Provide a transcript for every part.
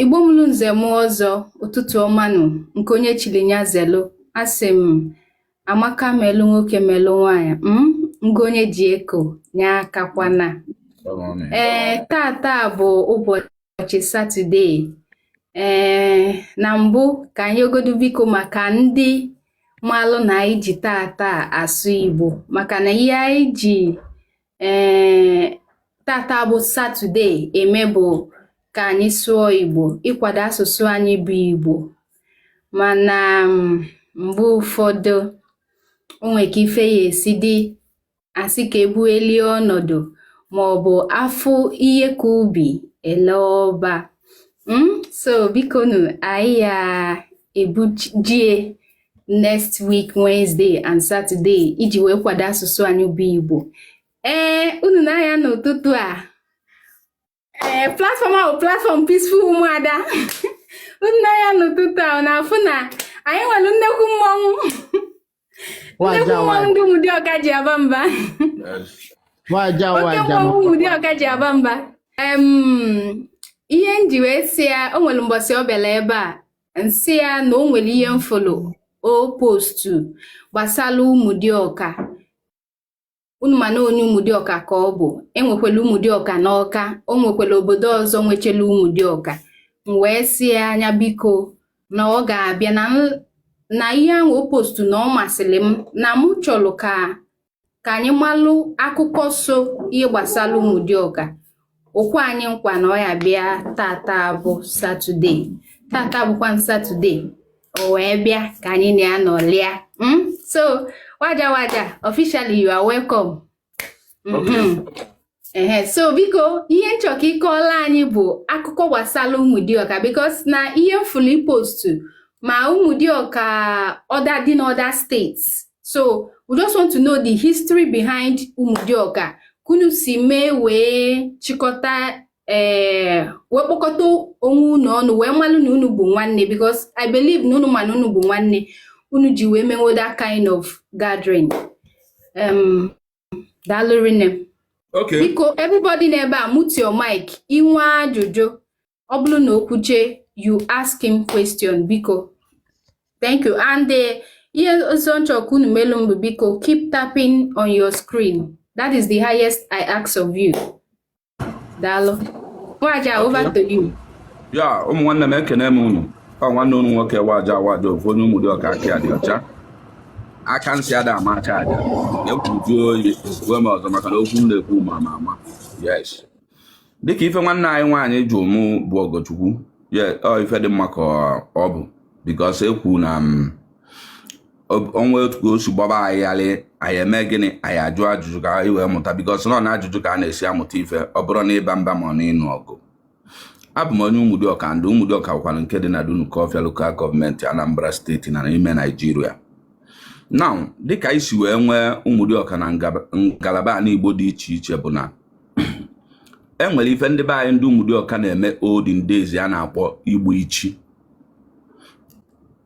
Igbo mụrụ nze mụọ ọzọ ụtụtụ ọma nụ nke onye chili nya zelu asị m amaka melụ nwoke melụ nwanyị m mm, ngo onye ji eko nya akakwana ee eh, tata bụ ụbọchị satọde ee eh, na mbụ ka anyị yọgodu biko maka ndị malụ na anyị ji tata asụ igbo maka na ihe anyị ji ee tata bụ satọde eme bụ ka anyị sụọ igbo ịkwado asụsụ anyị bụ igbo mana mm, mgbe ụfọdụ o nwere ka ife ya-esi dị a sị ka ebuelie ọnọdụ ma ọ bụ a fụ ihe ka ubi e lee ọba mm? so bikonu anyị ya ebujie next week Wednesday and Saturday iji wee kwado asụsụ anyị bụ Igbo ee unu nee anya n'ụtụtụ a ee platform ahụ platform Peaceful Ụmụada unu nee anya n'ụtụtụ a na-afụ na anyị nwere nnekwu mmọnwụ nnekwu mmọnwụ ndị Ụmụdịọka ji aba mba oke mmọnwụ Ụmụdịọka ji aba mba ihe m ji wee sị ya o nwere mbọsị ọ bịara ebe a m sị ya na o nwere ihe m fụlụ o postu gbasara Ụmụdịọka unu ma na onye Ụmụdịọka ka ọ bụ e nwekwala Ụmụdịọka n'Ọka o nwekwala obodo ọzọ nwechela Ụmụdịọka m wee sị ya nya biko na ọ ga-abịa na ihe ahụ o postu na ọ masịrị m na mụ chọrọ ka ka anyị malụ akụkọ so ihe gbasara Ụmụdịọka o kwe anyị nkwa na ọ ya-abịa tata bụ satọde tata bụkwa satọde o wee bịa ka anyị na ya nọlịa hmm? so waja waja officially you are welcome. Mm-hmm. ehe so biko ihe m chọ ka ị kọọla anyị bụ akụkọ gbasara Ụmụdịọka because na ihe m fụlụ i postu ma Ụmụdịọka other dị n'other states so we just want to know the history behind Ụmụdịọka ka unu si mee wee chịkọta ee eh, wee kpọkọta onwe unu ọnụ wee malụ na unu bụ nwanne because I believe na unu ma na unu bụ nwanne unu ji wee mewe that kind of gathering um, daalụ rinne Okay. biko everybody n'ebe a mute your mic i nwee ajụjụ ọ bụrụ na o kwuche you ask him question biko thank you and eh, ihe ọzọ m chọ ka unu melu m bụ biko keep tapping on your screen that is the highest I ask of you daalụ waja over to you ya ụmụ nwanne m ekene m unu ọ nwanne unu nwoke waja waja ofu onye ụmụdịọka aka dị ọcha aka nsị ada ama aka aja ekwuju oyi uwe m ọzọ maka na okwu m na-ekwu ma ama ama yes dịka ife nwanne anyị nwaanyị jụ mụ bụ ọgọchukwu ye ọ ife dị mma ka ọ bụ because ekwu na m o nwee otu ka o si gbaba anyị gharị anyị eme gịnị anyị ajụ ajụjụ ka anyị wee mụta because na ọ na ajụjụ ka a na-esi amụta ife ọ bụrọ na ịba mba ma ọ na ịnụ ọgụ abụ m onye Umudiọka ndị Umudiọka bụkwara nke dị na Dunukọfịa local government Anambra steeti na ime Naijiria now dịka e si wee nwee Umudiọka na ngalaba ala Igbo dị iche iche bụ na e nwere ife ndị be anyị ndị Umudiọka na-eme olden days a na-akpọ igbu ichi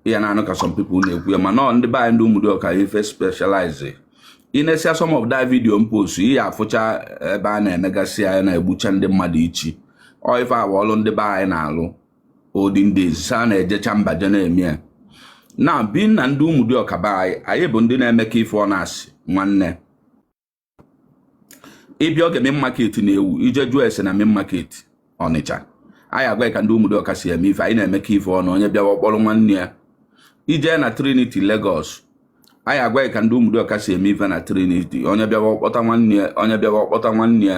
ya na-anụ ka some people na-ekwu ya mana ndị be anyị ndị ụmụdịọka ife specialize i nesịa some of that video m post ị ya-afụcha ebe a na-emegasị ya na-egbucha ndị mmadụ ichi ọ ife a bụ ọlụ ndị be anyị na-alụ olden days a na-ejecha mba je na-eme ya now being na ndị ụmụdịọka be anyị anyị bụ ndị na-emekọ ife ọnụ as nwanne ị bịa oge main market na-ewu i je jụọ ese na main market ọnịcha anyị agwa ka ndị ụmụdịọka si eme ife anyị na-emekọ ife ọnụ onye bịawa kpọrọ nwanne ya i je na trinity Lagos anyị agwa ka ndị ụmụdịọka si eme ife na trinity onye bịawa ọ kpọta nwanne ya onye bịawa ọ kpọta nwanne ya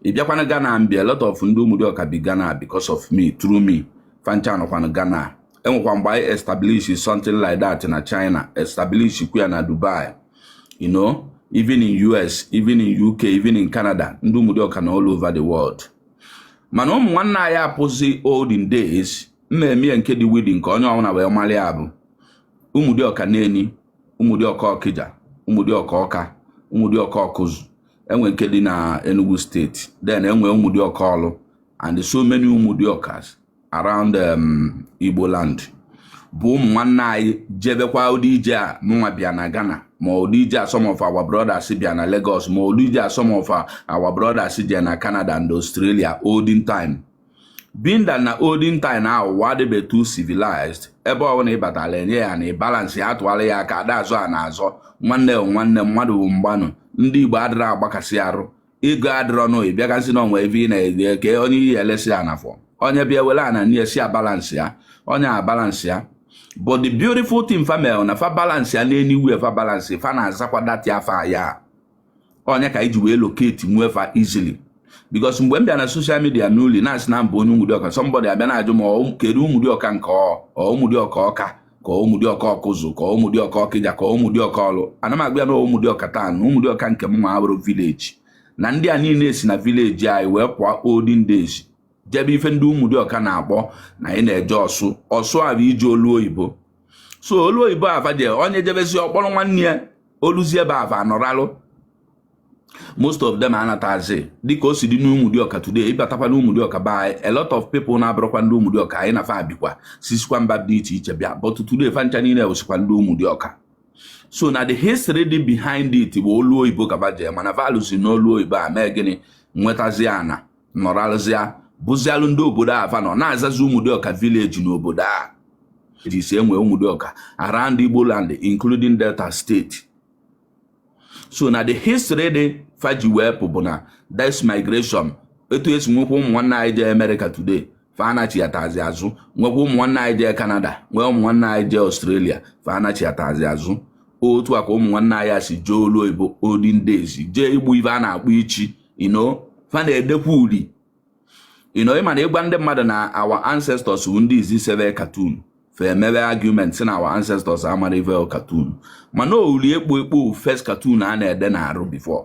ị bịakwa na Ghana m bịa a lot of ndị ụmụdịọka bi Ghana because of me through me fa ncha nọkwanụ Ghana e nwekwa mgbe anyị establish something like that na China establish kwa na Dubai you know even in US even in UK even in Canada ndị ụmụdịọka nọ all over the world mana ụmụ nwanne anyị apụzi olden days mmemme nke dị widi nke onye ọbụla wee mara ya bụ ụmụdịọka neni ụmụdịọka ọkịja ụmụdịọka ọka ụmụdịọka ọkụzụ e nwee nke dị na Enugu steeti then e nwee ụmụdịọka ọlụ and so many ụmụdịọkas around um, Igbo land bụ ụmụ nwanne anyị jebekwa ụdị ije a mụnwa bịa na Ghana ma ụdị ije a some of our brothers bịa na Lagos ma ụdị ije a some of our brothers bịa na Canada and Australia olden time being that na olden time na ụwa adịbe too civilized ebe ọ bụla ị batala e nye ị ana ị balansịa tụwara ya aka ada azọ ana azọ nwanne nwanne mmadụ bụ mgbanụ ndị Igbo adịrọ agbakasị arụ ego adịrọ n'oyi bịa ka nsị na onwe ebe ị na-ege ka onye iyi elesi ya na fọ onye bịa were ana nye sị ya balansịa onye abalansịa but the beautiful thing fa mere na fa balansịa n'anywhere fa balansị fa na-azakwa that afa ya onye ka e ji wee locate nwee fa easily because mgbe m bịa na social media newly na-asị na m bụ onye ụmụdịọka somebody abịa na-ajụ m kedu ụmụdịọka nke ọ ụmụdịọka ọka ka Ụmụdịọka Ọkụzụ ka Ụmụdịọka Ọkịja ka Ụmụdịọka Ọlụ ana m agwa ya na Ụmụdịọka taa na Ụmụdịọka nke mụnwa abụrụ village na ndị a niile si na village anyị wee pụọ olden days jebe ife ndị Ụmụdịọka na-akpọ na anyị na-eje ọsụ ọsụ a bụ ije olu oyibo so olu oyibo a va je onye jebezi ọ kpọrọ nwanne ya o luzie ebe a va anọralụ most of them anatazi dịka o si dị n'Ụmụdịọka today ị batakwa n'Ụmụdịọka be anyị a lot of people na-abụrọkwa ndị Ụmụdịọka anyị na fa bikwa sisikwa mba dị iche iche bịa but today fa ncha niile bụsikwa ndị Ụmụdịọka so na the history dị behind it bụ olu oyibo ka va je mana va lusi na olu oyibo a mee gịnị nwetazie ana nọrọzie bụzialụ ndị obodo a fa nọ na-azazi Ụmụdịọka village n'obodo a ji si enwe Ụmụdịọka around Igbo land including Delta State so na the history dị fa ji wee pụ bụ na this migration etu e si nwekwa ụmụ nwanne anyị jee America today fa anachiatazi azụ nwekwa ụmụ nwanne anyị jee Canada nwee ụmụ nwanne anyị jee Australia fa anachiatazi azụ otu a ka ụmụ nwanne anyị si jee olu oyibo olden days jee igbu ive a na-akpọ ichi you know fa na-edekwa uri you know ị ma na ị gwa ndị mmadụ na our ancestors wu ndị izi seve cartoon fa emewe argument sị na our ancestors amara ive cartoon mana ọ wụ uli ekpo ekpo first cartoon a na-ede n'arụ before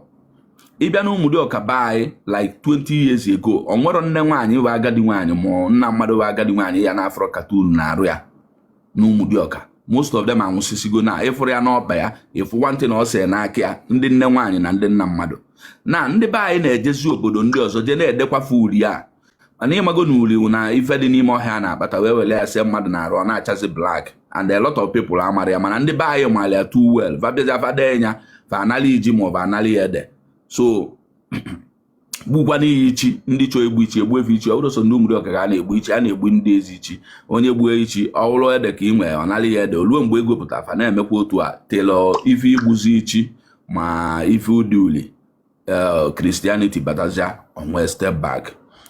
ị bịa na Ụmụdịọka be anyị like 20 years ago o nwerọ nne nwaanyị bụ agadi nwaanyị ma nna mmadụ bụ agadi nwaanyị ya na-afụrọ cartoon n'arụ ya na Ụmụdịọka most of them anwụsịsịgo na ị fụrọ ya n'ọkpa ya ị fụ nwantị na o se ya n'aka ya ndị nne nwaanyị na ndị nna mmadụ na ndị be anyị na-ejezi obodo ndị ọzọ jee na-edekwa fa uri a mana ị mago na uri na ife dị n'ime ọhịa a na-akpata wee were ya see mmadụ n'arụ ọ na-achazi black and a lot of people amara ya mana ndị be anyị maara ya too well va bịazịa fa dee ya fa anali ya ji maọbụ anali ya ede so gbukwana iyi ichi ndị chọọ igbu ichi egbue fa ichi ọ bụrụ sọ ndị Ụmụdịọka ga na-egbu ichi a na-egbu ndị eze ichi onye gbuo ichi ọ wụrụ ede ka i nwere ọ nara ya ede o luo mgbe ego pụtara fa na-emekwa otu a till ife igbuzi ichi ma ife ide uli Christianity eh, batazia o nwee step back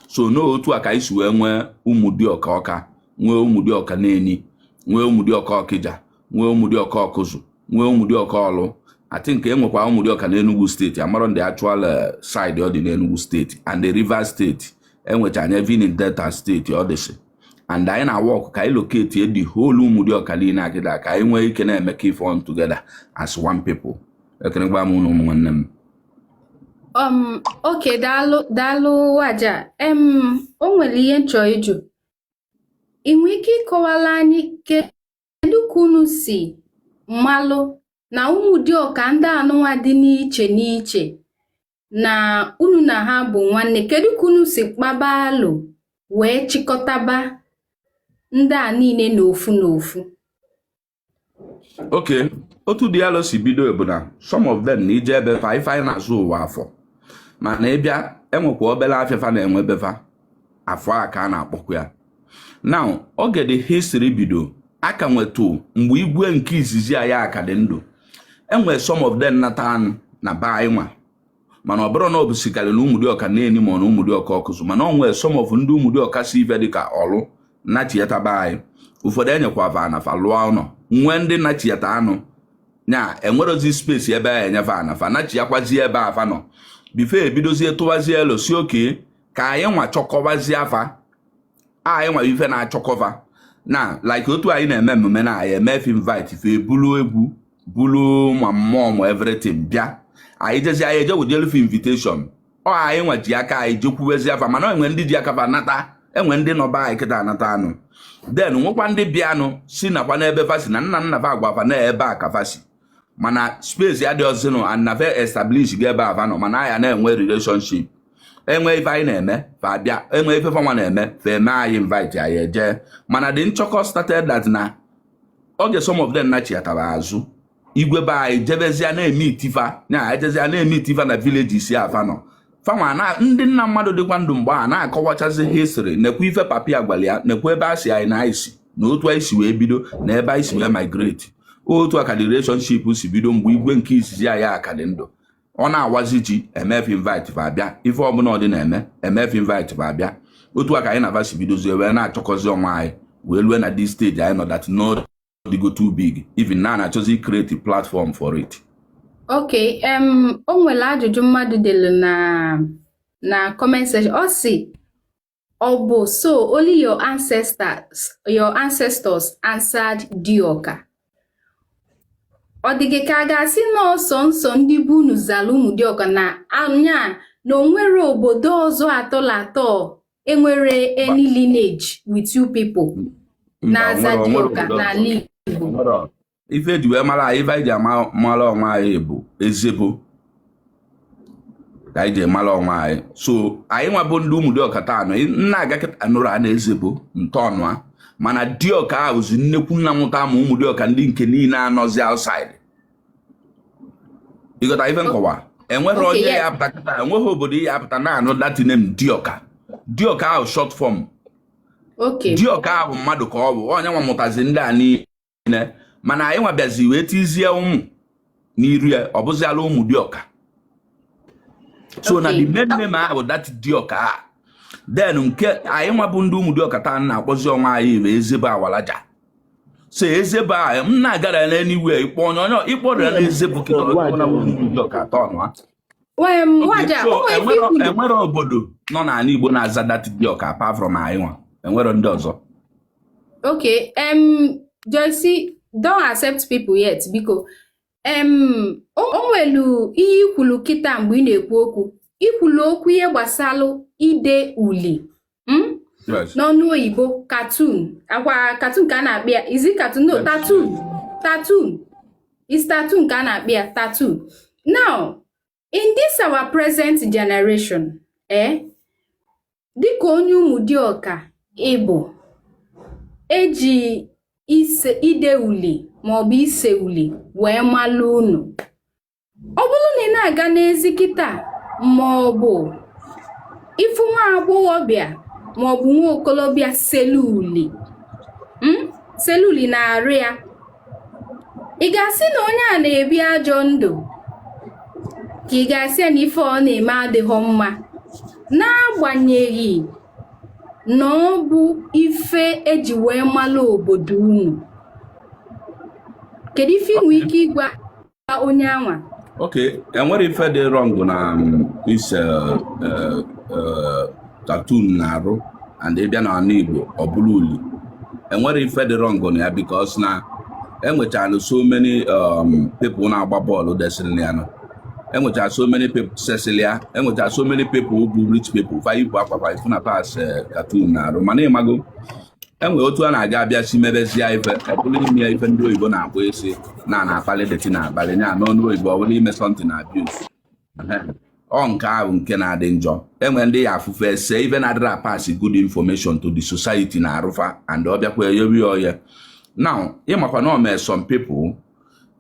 so n'otu a ka anyị si wee nwee Ụmụdịọka Ọka nwee Ụmụdịọka Neni nwee Ụmụdịọka Ọkịja nwee Ụmụdịọka Ọkụzụ nwee Ụmụdịọka Ọlụ I think e nwekwa Ụmụdịọka na Enugu State amarọ m the actual eh, side ọ dị n'Enugu State and the Rivers State e nwecha ya even in Delta State ọ dịsị and anyị na-work ka anyị locate the whole Ụmụdịọka niile kịta ka anyị nwee ike na-emekọ ife ọnụ together as one people ekenekwa m ụnụ ụmụ nwanne m um okay daalụ daalụ Waja em o nwere ihe m chọ ịjụ ị nwere ike ịkọwala anyị ke kedu ka unu si malụ na ụmụdịọka ndị anụnwa dị n'iche n'iche na unu na ha bụ nwanne kedu ka unu si kpaba alụ wee chịkọtaba ndị a niile n'ofu n'ofu okay otu dị alụ si bido bụ na some of them na ị jee ebe fa ife anyị na-azụ ụwa afọ mana ị bịa enwekwa obere afịa fa na-enwe be fa afọ a ka a na-akpọkwa ya now oge the history bido aka nwetu mgbe igwe nke izizi anyị aka dị ndụ enwee some of them nata anụ na be anyị nwa mana ọ bụrụ na ọ bụ sikarị na ụmụdịọka neni ma na ụmụdịọka ọkụzụ mana ọ nwere some of ndị ụmụdịọka si ebe dịka ọlụ nachieta be anyị ụfọdụ enyekwa va ana fa lụọ ụlọ nwee ndị nachieta anụ na enwerozi space ebe a enye va ana fa nachiakwazie ebe afa nọ before ebidozie tụwazie elo sị okay ka anyị nwa chọkọbazie afa anyị nwa ife na-achọkọba na like otu anyị na-eme emume na anyị eme fa invite fa ebulu egwu bulu ma mmụọ ma everything bịa anyị jezi anyị eje wejelu fa invitation ọ anyị nwa ji aka anyị jekwuwezi afa mana enwe ndị ji aka fa nata enwe ndị nọ be anyị kịta anata anụ then nwekwa ndị bịanụ sị nakwa n'ebe fa si na nna nna fa agwa fa na ebe a ka fa si mana space adịrọzinụ and na va establish ga ebe ava nọ mana anyị na-enwe relationship enwe ife anyị na-eme fa abịa enwe ife fanwa na-eme fa eme anyị invite anyị eje mana the nchọkọ started that na oge some of them nachiatara azụ igwe be anyị jebezie na-emeeti fa na ejezia na-emeeti fa na villages ava nọ fanwa na ndị nna mmadụ dịkwa ndụ mgbe a na-akọwachazi history nekwa ife papa ya gwara ya nekwa ebe a sị anyị na anyị si na otu anyị si wee bido na ebe anyị si wee migrate otu a ka the relationship si bido mgbe igwe nke izizi anyị akadị ndụ ọ na-awazi ji eme fa invite va abịa ife ọbụla ọ dị na-eme eme fa invite va abịa otu a ka anyị na va si bidozie wee na-achọkọzi onwe anyị wee lue na this stage anyị nọ that n'otu ọ dịgo too big even na a na-achọzi create platform for it ok um, o nwere ajụjụ mmadụ delu na na comment section ọ sị ọ bụ so only your ancestors your ancestors answered dioka ọ dị gị ka a ga-asị na ọ sọọsọ ndị gboo unu zara ụmụ dioka na anya na o nwere obodo ọzọ at all at all enwere any lineage with you people na-aza dioka n'ala Igbo ife eji wee mara anyị ife anyị ji mara onwe anyị bụ ezebo ka anyị ji mara onwe anyị so anyị nwa bụ ndị ụmụ dịọka taa anọ nna aga kịta nụrụ a na-ezebo ntọọnụ a mana dịọka bụzi nnekwu nna mụta ma ụmụ dịọka ndị nke niile anọzi outside ịghọta ife nkọwa enweghị onye ya apụta kịta enweghị obodo ya apụta na-anụ that name dioka dioka ahụ short form dioka ahụ mmadụ ka ọ bụ onye nwa mụtazi ndị a niile mana anyị nwa bịazi wee tizie ụmụ n'iru ya ọ bụziala ụmụ dioka so na the main name ahụ that dioka then nke anyị nwa bụ ndị ụmụ dioka taa na-akpọzi onwe anyị bụ ezebo awalaja so Ezebo ahụ m na-agara ya n'anywhere ịkpọ onye onye ịkpọrọ ya na Ezebo kịta ọ na ụmụ Dioka atọ ọnụ ha Em, Okay, Nwaja, so o nwere ife enwero ikwuru. enwero obodo nọ n'ala Igbo na-aza that Dioka apart from anyị nwa enwero ndị ọzọ Okay, um, Joyce, don't accept people yet, biko. Um, o o nwelu ihe i kwulu kịta mgbe ị na-ekwu okwu. I kwulu okwu ihe gbasalụ ide uli. hmm? n'ọnụ oyibo cartoon ọ kwa cartoon ka a na-akpọ ya is it cartoon no tattoo tattoo is tattoo ka a na-akpọ ya tattoo now in this our present generation eh dịka onye ụmụ dioka ị bụ eji ise ide uli maọbụ ise uli wee malụ unu ọ bụrụ na ị na-aga n'ezi kịta ma ọ bụ ị fụ nwa agbọghọbịa ma ọ bụ nwa okolobịa selụ uli hmm? selụ uli n'arụ ya ị ga-asị na onye a na-ebi ajọ ndụ ka ị ga-asị ya na ife ọ na-eme adịghị mma n'agbanyeghị na ọ bụ ife eji wee malụ obodo unu kedu ife i nwe ike ịgwa onye anwa ok enwero ife dị wrong na um, ise uh, uh, uh, tattoo n'arụ and ị bịa n'ala Igbo ọ bụrụ uli enwero ife dị wrong na ya because na enwechara so many um, people na-agba bọọlụ desịrị nya nọ enwechara so many people sesịrị ya enwechara so many people bụ rich people fa yipụ akwa fa ị fụ na fa se tattoo n'arụ mana ị mago enwere otu a na-aga abịa si mebezie ife ọ bụrụ ime ya ife ndị oyibo na-akpọ isi na na-akpali that thing akpali ya n'ọnụ oyibo ọ bụrụ ime something abuse ọ nke ahụ nke na-adị njọ enwe ndị ya afụ fa ese ife na-adịrọ a-pass good information to the society n'arụ fa and ọ bịakwa eyobi ọya now ị makwa na ọ mee some people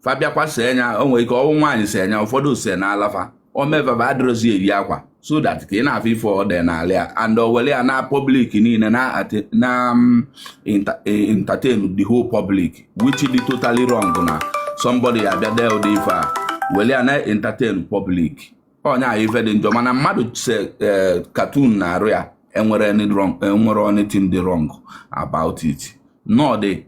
fa bịakwa see nya o nwere ike ọ bụ nwaanyị see nya ụfọdụ see n'ala fa o mee fa fa adịrọzi eyi akwa so that ka ị na-afụ ife ọ dị n'ala ya and o were ya na public niile na um, e, entertain the whole public which dị totally wrong na somebody abịa dee ụdị ife a were ya na-entertain public ọ nya bụ ife dị njọ mana mmadụ see tattoo n'arụ ya enwero e, anything dị wrong about it no ọ dị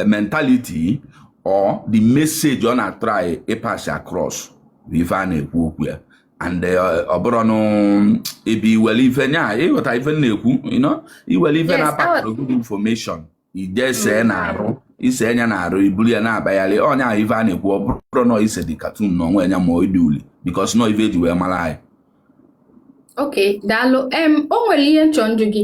mentality or the message ọ na-atry ịpass across bụ ife a na-ekwu okwu ya and eh, ọ bụrụ nụ ebe iwere ife nya ịghọta ife na-ekwu iwere ife na-apakọrọ good information i je see mm. n'arụ i see nya n'arụ i buru ya na-abayarị onye ahụ ife a na-ekwu ọ bụrụ nọ ise dị cartoon n'onwe nya ma ọ dị uli because na ọ ife eji wee mara anyị ok daalụ o nwere ihe m chọ ịjụ gị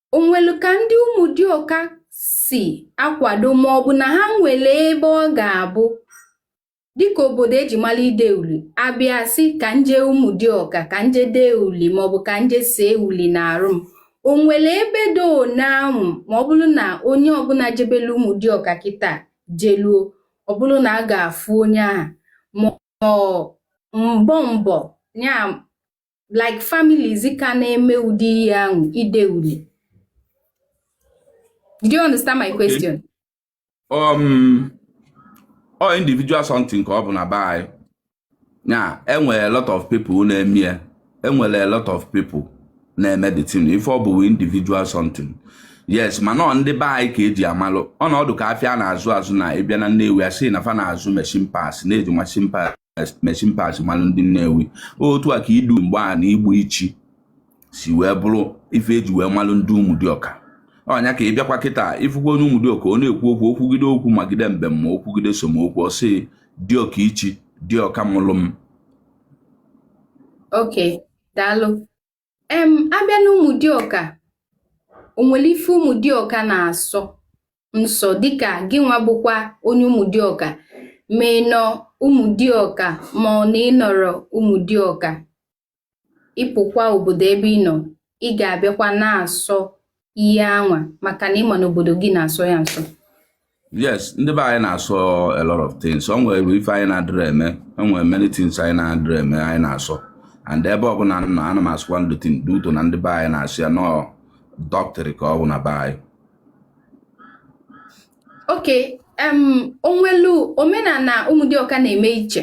o nwelu ka ndị Ụmụdịọka si akwado ma ọ bụ na ha nwere ebe ọ ga-abụ dịka obodo eji mara ide uli a bịa sị ka m je Ụmụdịọka ka m je dee uli ma ọ bụ ka m je see uli n'arụ m o nwere ebe do n'anwụ ma ọ bụrụ na onye ọbụla jebelu Ụmụdịọka kịta jeluo ọ bụrụ na a ga-afụ onye ahụ ma mbọ mbọ ya like families ka na-eme ụdị ihe ahụ ide uli do you understand my question um ọ individual something ka ọ bụ na be anyị ya enwere a lot of people na-eme ya enwere a lot of people na-eme the thing ife ọ bụ individual something yes mana ọ ndị be anyị ka eji amalụ ọ na-adị ka afịa a na-azụ azụ na ị bịa na Nnewi a sị na fa na-azụ machine parts na e ji machine parts machine parts malụ ndị Nnewi otu a ka idu mgbe a na igbu ichi si wee bụrụ ife eji wee malụ ndị Ụmụdịọka ọ nya ka ị bịakwa kịta ị fụkwa onye Ụmụdịọka ọ na-ekwu okwu okwugide okwu magide mbem ma okwugide somokwu ọ sị Dịọka ichi Dịọka mụlụ m okay daalụ em a bịa na Ụmụdịọka o nwere ife Ụmụdịọka na-asọ nsọ dịka gị nwa bụkwa onye Ụmụdịọka ma ị nọ Ụmụdịọka ma ọ na ị nọrọ Ụmụdịọka ị pụkwa obodo ebe ị nọ ị ga-abịakwa na-asọ ihe anwa maka na ị ma na obodo gị na-asọ ya nsọ yes ndị be anyị na-asọ a lot of things o nwere ife anyị na-adịrị eme o nwere many things anyị na-adịrị eme anyị na-asọ and ebe ọbụla nọ ana m asọkwanụ the thing due to na ndị be anyị na-asọ ya na ọ the culture ka ọ bụ na be anyị okay o nwelu omenala Ụmụdịọka na-eme iche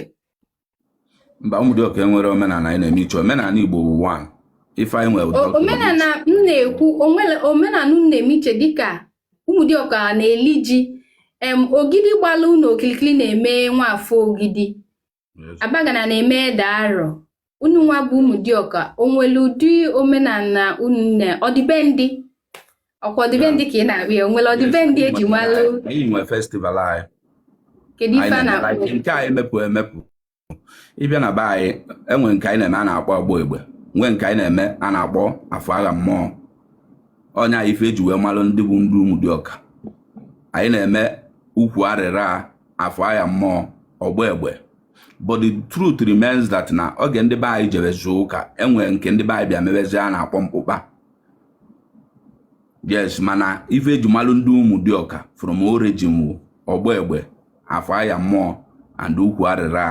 mba Ụmụdịọka enwerọ omenala anyị na-eme iche omenala Igbo bụ one ife anyị nwere omenala m na-ekwu omenala unu na-eme iche dịka Ụmụdịọka na-eli ji em Ogidi gbalụ unu okilikili na-eme Nwafọ Ogidi Abagana na-eme ede arọ unu nwa bụ Ụmụdịọka o nwere ụdị omenala unu na ọdịbendị ọkwa ọdịbendị ka ị na-akpọ ya onwere ọdịbendị eji malụ anyị nwe festival anyị kedu ife a na-akpọ nke anyị emepụ emepụ ịbịa na be anyị enwe nke anyị na-eme a na-akpọ ọgba egbe nwee nke anyị na-eme a na-akpọ afọ agha mmụọ ọ nya wụ ife eji wee malụ ndị bụ ndị ụmụdịọka anyị na-eme ukwu arịra afọ agha mmụọ ọgba egbe but the truth remains that na oge ndị be anyị jebezi ụka enwere nke ndị be anyị bịa mebezi a na-akpọ mkpụkpa yes mana ife eji malụ ndị ụmụdịọka from origin wụ ọgba egbe afọ aya mmụọ and ukwu arịra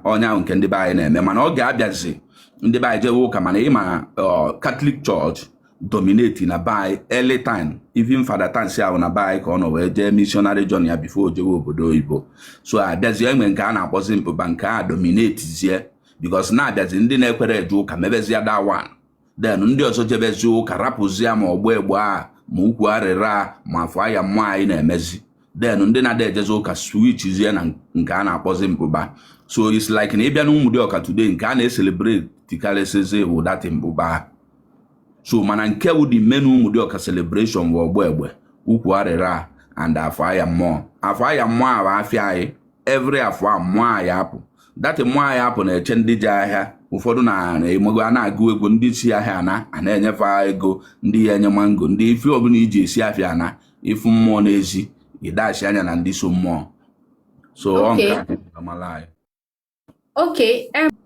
ahụ ọ nya wụ nke ndị be anyị na-eme mana oge abịazi ndị be anyị jewe ụka mana ị ma catholic church dominate na be anyị early time even father tansi ahụ na be anyị ka ọ nọ wee jee missionary journey ya before ojewe obodo oyibo so abịazie enwe nke a na-akpọzi mkpụkpa nke a dominate zie because na-abịazi ndị na-ekwerọ eje ụka mebezie that one then ndị ọzọ jebezi ụka rapụzi ya ma ọgba egbe a ma ukwu arịra ma afọ aya mmụọ anyị na-emezi then ndị na-ada ejezi ụka switchzie na nke a na-akpọzi mkpụkpa so it's like na ịbịa n'ụmụdịọka today nke a na-ecelebrate karịsịzi bụ that mkpụkpa so mana nke bụ the main ụmụdịọka celebration bụ ọgba egbe ukwu arịra and afọ aya mmụọ afọ aya mmụọ ahụ afịa anyị every afọ a mmụọ anyị apụ that mmụọ anyị apụ na-eche ndị je ahịa ụfọdụ na-emego a na-agụ egwu ndị si ahịa na-ana enye fa ego ndị ya enye mango ndị ife ọbụla iji esi afịa ana ị fụ mmụọ n'ezi ịdachi anya na ndị so mmụọ so ọ nke amala anyị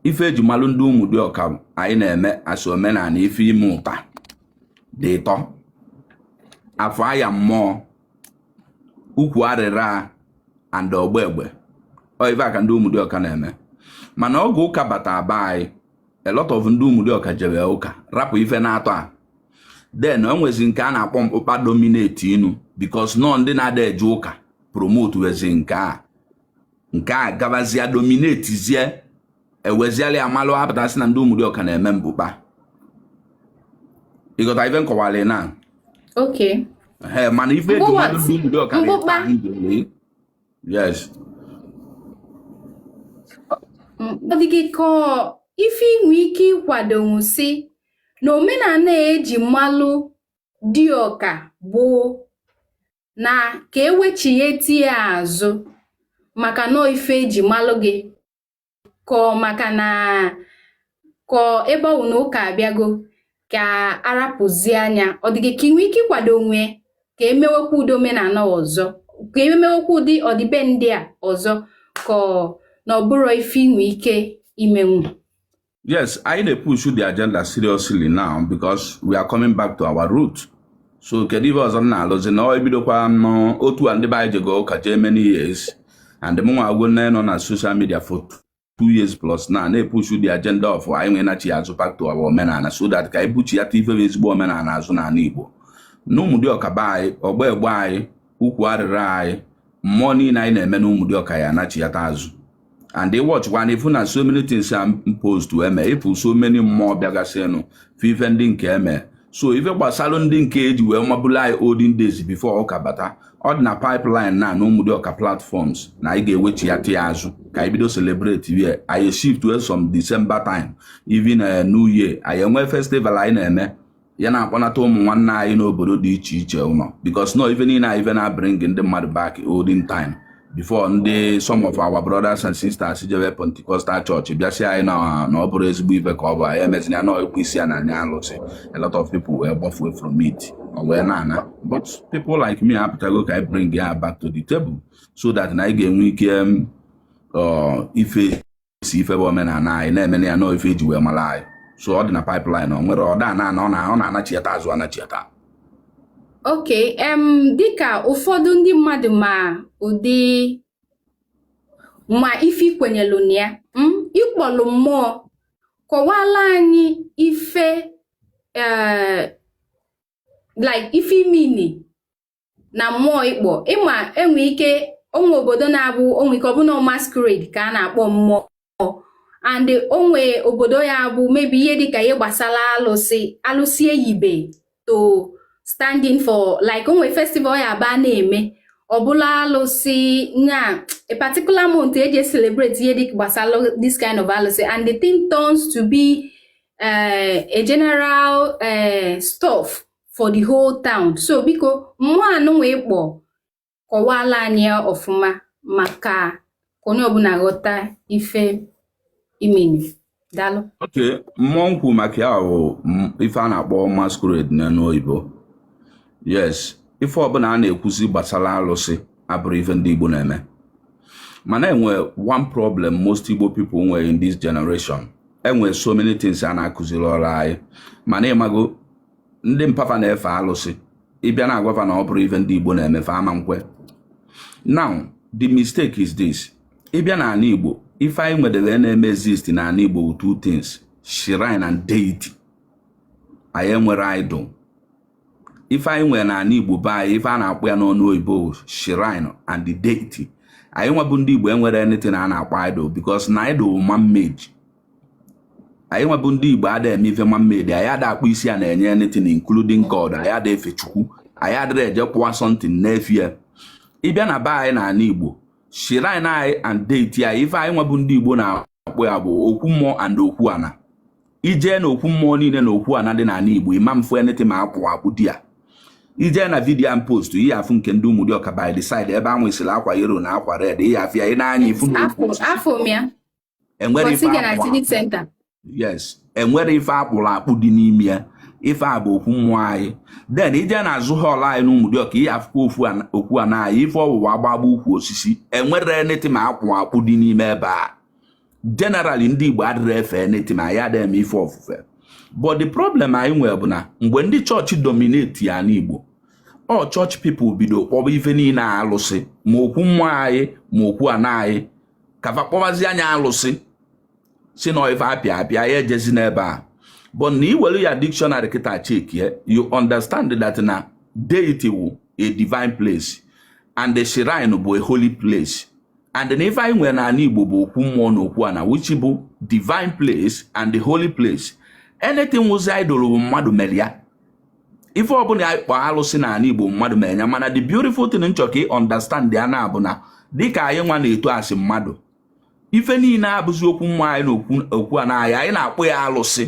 ife eji malụ ndị ụmụdịọka anyị na-eme as omenala ife ime ụta dị ịtọ afọ aya mmụọ ukwu arịra and ọgba egbe ọ ife a ka ndị ụmụdịọka na-eme mana oge ụka bata be anyị a lot of ndị ụmụdịọka jebe ụka rapụ ife n'atọ a then o nwezi nke a na-akpọ mkpụkpa dominate inu because n'ọ ndị na-ada eje ụka promote wezi nke a nke a gabazie dominatezie eweziala ya malụ apụtasị na ndị ụmụdịọka na-eme mkpụkpa ịghọta ife nkọwalị na okay ee mana ife eji malụ ndị ụmụdịọka mkpụkpa yes ọ dị gị ka ife inwe ike ịkwadonwu sị na omenala eji malụ dịọka bụ na ka ewechighete ya azụ maka na ọ ife eji malụ gị ka ọ maka na ka ọ ebe ọ bụ na ụka abịago ka arapụzie nya ọ dị gị ka inwe ike ịkwadonwu ka emewekwa ụdị omenala ọzọ ka emewekwa ụdị ọdịbendị a ọzọ ka ọ na ọ bụrọ ife inwe ike imenwu yes anyị na-epush the agenda seriously now because we are coming back to our root so kedu ife ọzọ m na-alụzi na ọ ebidokwa nọ otu a ndị be anyị jego ụka jee many years and mụnwa agwo nne nọ na social media for two years plus na na-epush the agenda of anyị nwee nachiya azụ back to our omenala so that ka anyị buchiyata ife bụ ezigbo omenala azụ n'ala Igbo na Ụmụdịọka be anyị ọgba egbe anyị ukwu arịrị anyị mmụọ niile anyị na-eme na Ụmụdịọka ya anachiyata azụ and ị watchkwanụ ị fụ na so many things am post to eme ị fụ so many mmụọ bịagasịnụ fe ife ndị nke eme so ife gbasara ndị nke eji wee mabulu anyị olden days before ụka bata ọ dị na pipeline na na Ụmụdịọka platforms na anyị ga-ewechiyata azụ ka anyị bido celebrate ya anyị shift to some December time even eh, new year anyị enwee festival anyị na-eme ya na-akpọnata ụmụ nwanne anyị n'obodo dị iche iche ụlọ because na ọ ife niile anyị ife na-abring ndị mmadụ back olden time before ndị some of our brothers and sisters jewe Pentecostal church bịa sị anyị na ọ bụrọ ezigbo ife ka ọ bụ anyị emezina ya na ekwe isi ya na anya alụsị a lot of people wee gbafue from it ọ wee na-ana but people like me apụtago ka anyị bring ya back to the table so that na anyị ga-enwe ike um, uh, ife si ife bụ omenala anyị na-eme na ya na ọ ife eji wee mara anyị so ọ dị na pipeline o nwere ọda na ọ na-anachiata azụ anachiata ok em dịka ụfọdụ ndị mmadụ ma ụdị ma ife i kwenyelu na ya hmm, ị kpọlụ mmụọ kọwaalụ anyị ife eh, like ife ị mean na mmụọ ị kpọ ị ma e nwe ike o nwe obodo na-abụ o nwe ike ọ bụ na ọ masquerade ka a na-akpọ mmụọ and o nwe obodo ya bụ maybe ihe dịka ihe gbasara alụsị alụsị e yibe to stand in for like o nwe festival ya abụ a na-eme ọ bụlụ alụsị na a particular month eji celebrate ihe dịka gbasara this kind of alụsị and the thing turns to be uh, a general uh, stuff for the whole town so biko mmụọ anụnwa ị kpọ kọwaalụ anyị ya ọfụma maka ka onye ọbụla ghọta ife ị mean daalụ ok mmụọ m kwu maka ya bụ ife a na-akpọ masquerade n'ọnụ oyibo yes ife ọbụla a na-ekwuzi gbasara alụsị abụrọ ife ndị Igbo na-eme mana e nwe one problem most Igbo people nwere in this generation e nwe so many things na akụzirọlụ anyị mana ị mago ndị mpa fa na-efe alụsị ị bịa na-agwa fa na ọ bụrọ ife ndị igbo na-eme fa ama nkwe now the mistake is this ị bịa na ala igbo ife anyị nwedere na-eme exist na ala igbo bụ two things shrine and deity anyị enwerọ idol ife anyị nwere na ala igbo be anyị ife a na-akpọ ya n'ọnụ oyibo shrine and the deity anyị nwa bụ ndị igbo enwerọ anything a na-akpọ idol because na idol man made anyị nwa bụ ndị igbo ada eme ife man-made anyị ada akpọ isi ana enye anything including god anyị ada efe chukwu anyị adịrọ eje kpụwa something na-efe ya ịbịa na be anyị n'ala igbo shrine anyị and deity anyị ife anyị nwa bụ ndị igbo na-akpọ ya bụ okwu mmụọ and okwu ana ijee na okwu mmụọ niile na okwu ana dị n'ala igbo ịma mfụ anything ma akpụ akpụ dị ya ije na vidiyo a post ị ya-afụ nke ndị Ụmụdịọka by the side ebe anwụ isiri akwa yellow na akwa red ị ya-afụ ya ị na-anya ifu na okwu enwerọ ife akpụ yes enwerọ ife akpụrụ akpụ dị n'ime ya ife a bụ okwu mmụọ anyị then ije na azụ hall anyị na Ụmụdịọka ị ya-afụkwa okwu ana anyị ife ọ wụwa agbagba ukwu osisi enwerọ anything ma akpụ akpụ dị n'ime ebe a generally ndị Igbo adịrọ efe anything ma ya adịghị eme ife ofufe but the problem anyị nwere bụ na mgbe ndị chọọchị dominate ana Igbo ọ church people bido kpọba ife niile alụsị ma okwu mmụọ anyị ma okwu ana anyị ka fa kpọbazi nya alụsị sị na ọ ife apịa apịa ya ejezi n'ebe a but na iwere ya dictionary kịta chekie you understand that na deity wụ a divine place and the shrine bụ a holy place and na ife anyị nwere n'ala Igbo bụ okwu mmụọ na okwu ana which bụ divine place and the holy place anything wụzi idol bụ mmadụ mere ya ife ọbụla a kpọ alụsị n'ala Igbo mmadụ mee nya mana the beautiful thing m chọ ka ị understand ya na bụ na dịka anyị nwa na-eto as mmadụ ife niile abụzi okwu mmụọ anyị na okwu ana anyị anyị na-akpọ ya alụsị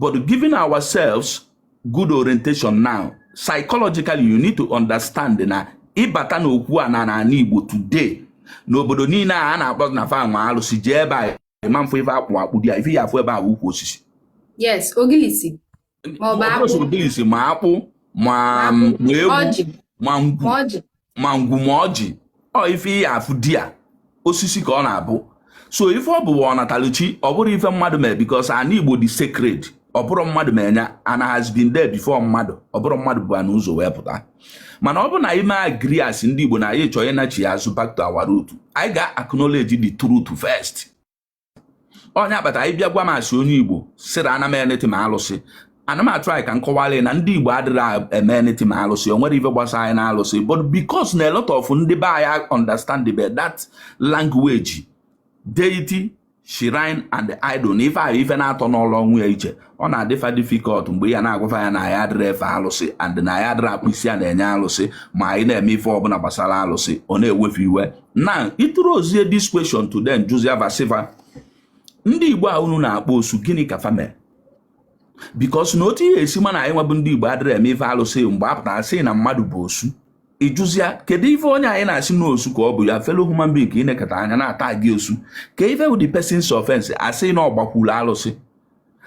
but giving ourselves good orientation now psychologically you need to understand na ịbata na okwu ana n'ala Igbo today n'obodo niile a na-akpọ na fa nwe alụsị jee ebe a ịma mfụ ife akpụ akpụ dị ya ife ị ya-afụ ebe a ukwu osisi yes ogilisi ogilisi ma akpụ ma egwu ma ngwu ma ngwu ma ọjị ọ ife ị ya-afụ dị ya osisi ka ọ na-abụ so ife ọ bụwa ọnatalụchi ọ bụrọ ife mmadụ mee because ana igbo dị sacred ọ bụrọ mmadụ mee nya ana has been there before mmadụ ọ bụrọ mmadụ bu na ụzọ wee pụta mana ọ bụ na anyị me agree as ndị igbo na anyị chọọ ịnachigha azụ back to our root anyị ga-acknowledge the truth first ọ nya kpata ị bịa gwa m sị onye igbo sịrị ana m anything ma alụsị ana m atry ka m kọwalụ na ndị igbo adịrọ eme anything ma alụsị o nwerọ ife gbasa anyị na alụsị but because na a lot of ndị be anyị understand be that language deity shrine and idol na ife ahụ ife na-atọ nọlụ onwe ya iche ọ na-adị fa difficult mgbe ya na-agwa fa ya na anyị adịrọ efe alụsị and na anyị adịrọ akpọ isi ana enye alụsị ma anyị na-eme ife ọbụla gbasara alụsị ọ na-ewe fa iwe na ị throwzie this question to them jụzia va sị va ndị Igbo a unu na-akpọ osu gịnị ka fa mere because na otu ị ya-esi ma na anyị nwa bụ ndị Igbo adịrọ eme ife alụsị mgbe a pụtara sị na mmadụ bụ osu ị jụzia kedu ife onye anyị na-asị na osu ka ọ bụ your fellow human being ka ị nekata anya na-atagị osu kee ife bụ the person's offense a sị na ọ gbakwuru alụsị